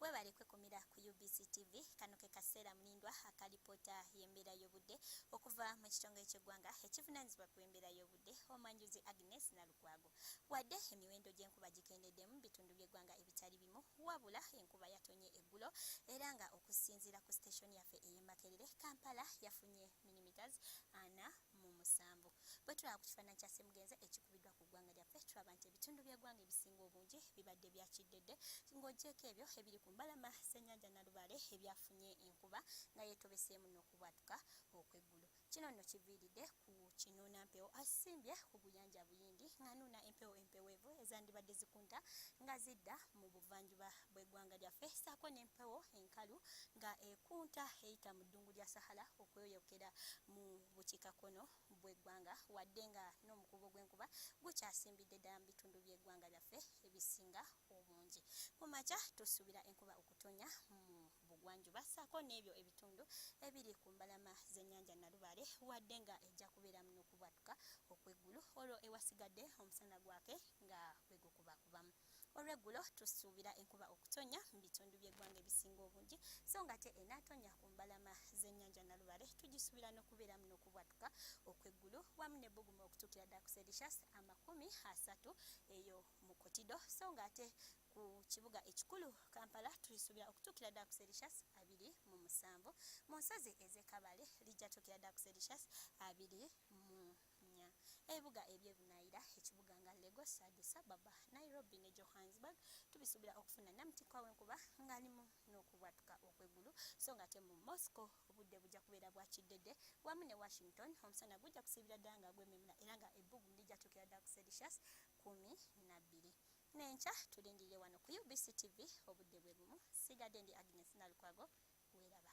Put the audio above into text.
Webale kwekumira ku UBC TV. Kano ke kaseera mulindwa akalipoota y'embeera y'obudde okuva mu kitongole ky'eggwanga ekivunaanyizibwa ku embeera y'obudde omwanjuzi Agnes Nalukwago. Wadde emiwendo gy'enkuba gikendedde mu bitundu by'eggwanga ebitali bimu, wabula enkuba yatonye eggulo era nga okusinziira ku siteeshoni yaffe ey'e Makerere, Kampala yafunye millimeters ana mu musanvu bwetulaba ku kifaananyi kya semugenze ekikubiddwa ku ggwanga lyaffe tulaba nti ebitundu by'eggwanga ebisinga obungi bibadde bya kiddedde ng'ogyeko ebyo ebiri ku mbalama ssenyanja nalubaale ebyafunye enkuba nga yetobeseemu n'okubwatuka okw'eggulu kino nno kiviiridde ku kinuuna mpewo asimbye ku guyanja buyindi ng'anuuna empewo empeweevu ezandibadde zikunta nga zidda mu buvanjuba bw'eggwanga lyaffe saako n'empewo enkalu nga ekunta eyita mu ddungu lya sahala okweyoyokera mu bukiika kkono bw'eggwanga wadde nga n'omukuubo gw'enkuba gukyasimbidde ddala mu bitundu by'eggwanga lyaffe ebisinga obungi. Ku makya tusuubira enkuba okutonya mu bugwanjuba ssaako n'ebyo ebitundu ebiri ku mbalama z'ennyanja Nalubaale wadde nga ejja kubeeramu n'okubwatuka okw'eggulu olwo ewasigadde omusana gwake nga bwe gukubakubamu. Olweggulo tusuubira enkuba okutonnya mu bitundu by'eggwanga ebisinga obungi so ng'ate enaatonnya ku mbalama z'ennyanja Nalubale tugisuubira n'okubeeramu n'okubwatuka okw'eggulu wamu n'ebbugumu okutuukira ddala ku Celsius amakumi asatu eyo mu Kotido so ng'ate ku kibuga ekikulu Kampala tulisuubira okutuukira ddala ku Celsius abiri mu musanvu mu nsozi ez'e Kabale lijja tuukira ddala ku Celsius abiri mu Kenya, ebibuga eby'e Bunayira, ekibuga nga Lagos, Addis Ababa, Nairobi ne Johannesburg tubisuubira okufuna namtikwa w'enkuba ng'alimu n'okubwatuka okw'eggulu so ng'ate mu Moscow obudde bujja kubeera bwa kiddedde wamu ne Washington omusana gujja kusiibira ddala nga gwememula era nga ebbugumu lijja tuukira ddala ku Celsius kkumi na bbiri. N'enkya tulindirire wano ku UBC TV obudde bwe bumu. Sigadde ndi Agnes Nalukwago weeraba.